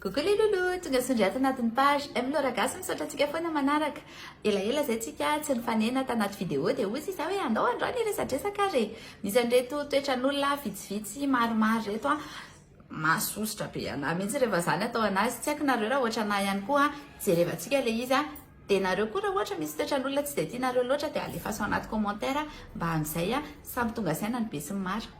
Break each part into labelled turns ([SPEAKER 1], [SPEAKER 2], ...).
[SPEAKER 1] Coucou les loulous, tonga sondry ato anatin'ny page M Laura Gasy, misaotra antsika foana manaraka. Elaela izay tsika tsy nifanena tanaty vidéo dia hoy sisa hoe andao androany hiresadresaka ary e. Misy an'ireto toetran'olona vitsivitsy maromaro reto a. Masosotra be anà mihitsy rehefa zany atao anazy. Tsy haiko nareo raha ohatra anà ihany koa jerevantsika ilay izy a. Dia nareo koa raha ohatra misy toetran'olona tsy dia tianareo loatra dia alefaso anaty commentaire mba amin'izay samy tonga saina ny be sy ny maro.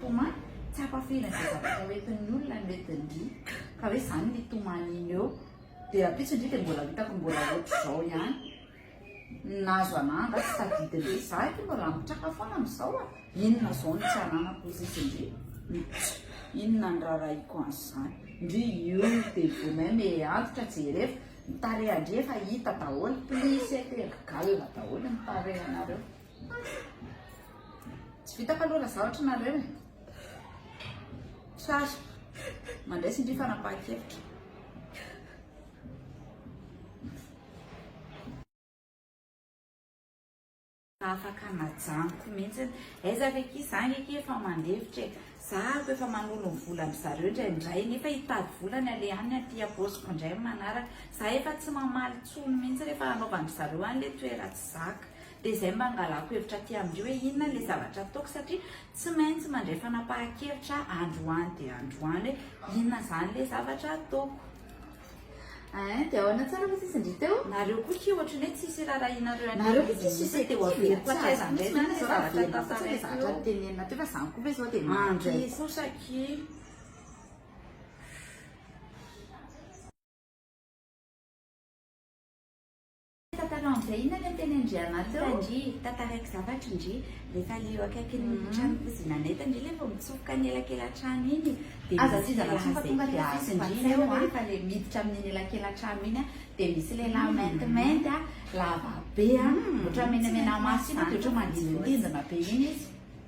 [SPEAKER 1] Toma, tsy ampafihina izay zavatra hoentin'ny olona ny hoentin-dry, ka hoe izany ny toman'iny eo. Dia rahampitso-ndry dia mbola hitako mbola ohatr'izao ihany. Nahazo anà angaha tsy tadidin-dry? Izaho aky mbola mitraka foana amin'izao a! Inona izao no tsy ananako ozizi-ndry? Mpitso, inona ny raharahiako an'izany? Ndry io dia vous même ee antitra jereva, ny tarehan-dry efa hita daholo, plis ee terga-galona daholo ny tarehanareo. Tsy vitako aloha raha zahotra nareo e. Tsara. Mandray sy ndry fanapahan-kevitra. afaka najanoko mihitsy aiza ve ki za nge ki efa mandevitra e za ko efa manolo ny vola am zareo indraindray nefa hitady vola ny ale any aty aposiko indray manaraka za efa tsy mamaly tsony mihitsy rehefa hanaovan'ny zareo any le toera tsy zaka dia izay mba angalako hevitra aty amin-dry hoe inona ilay zavatra ataoko satria tsy maintsy mandray fanapahan-kevitra aho androany dia androany hoe inona izany ilay zavatra ataoko. Hein, dia ahoana tsara fa tsisy indry teo? Nareo koa ki ohatry ny hoe tsisy irarahinareo an'io. Nareo koa tsisy izy teo averiko aty aza indray na ilay zavatra tantaraiko. Zavatra nitenenina teo fa zany koa ve izao dia maty. Andray kosa ki. Tantara an'izay inona le teny Andriamatoa? Hita ndry, tantaraiko
[SPEAKER 2] zavatra ndry, rehefa le eo akaikin'ny tranon'Kozinanay eto ndry le vao mitsofoka ny elakela-trano iny dia Aza misy tizana intsony
[SPEAKER 1] fa tonga dia azo fantsaina eo an! fa le miditra amin'iny elakela-trano iny an dia misy lehilahy maintimainty an, lava be an, ohatran'ny menamenamaso iny an, dia ohatran'ny mandindindindina be iny izy.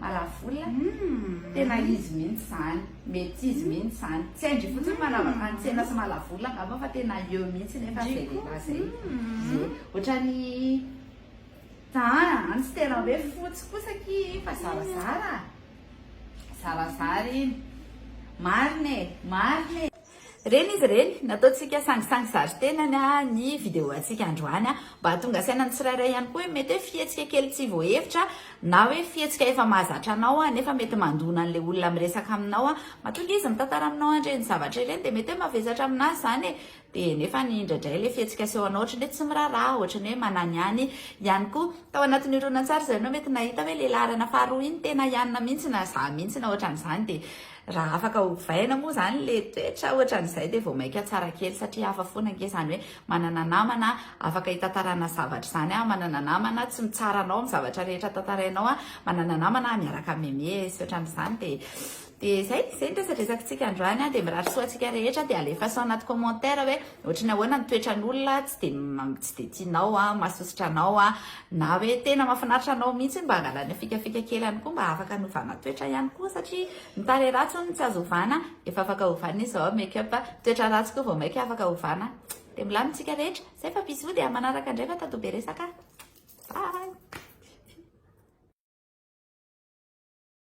[SPEAKER 1] Maravola? Tena izy mihitsy izany, mety izy mihitsy izany. Tsy haindry fotsiny manava fantsena sy malavola angamba fa tena eo mihitsy nefa izay lehilahy izay. Izay. Ohatran'ny an, tsy tena hoe fotsy kosa ki fa zarazara. Zarazara iny. Marina e, marina e. Reny izy reny, nataontsika sangisangy sary tenany ny video antsika androany mba hahatonga saina ny tsirairay ihany koa hoe mety hoe fihetsika kely tsy voahevitra na hoe fihetsika efa mahazatra anao nefa mety mandona an'ilay olona miresaka aminao mahatonga izy mitantara aminao an'ireny zavatra ireny dia mety hoe mavesatra aminazy izany e dia nefa ny indraidray ilay fihetsika seho anao ohatran'ny hoe tsy miraharaha ohatran'ny hoe mananiany ihany koa tao anatin'ny horonantsary izay anao mety nahita hoe ilay laharana faharoa iny tena ianona mihitsy na za mihitsy na ohatran'izany dia Raha afaka ovaina moa izany le toetra ohatran'izay dia vao maika tsara kely satria hafa foana ange izany hoe manana namana afaka hitantarana zavatra izany aho, manana namana tsy mitsara anao amin'ny zavatra rehetra tantarainao aho, manana namana aho miaraka miamehy sy ohatran'izany dia dia izay, izay ny resadresakitsika androany an, dia mirary soa antsika rehetra dia alefaso anaty commentaire hoe ohatry ny ahoana ny toetran'olona tsy dia tsy dia tianao an, mahasosotra anao an. Na hoe tena mafinaritra anao mihitsy mba angala ny fikafika kely any koa mba afaka anovana toetra ihany koa satria ny tarehy ratsy hono tsy azo ovana efa afaka ovana izy zao make up toetra ratsy koa vao maika afaka ovana dia milamina tsika rehetra zay fa bisous dia manaraka indray fa tato be resaka bye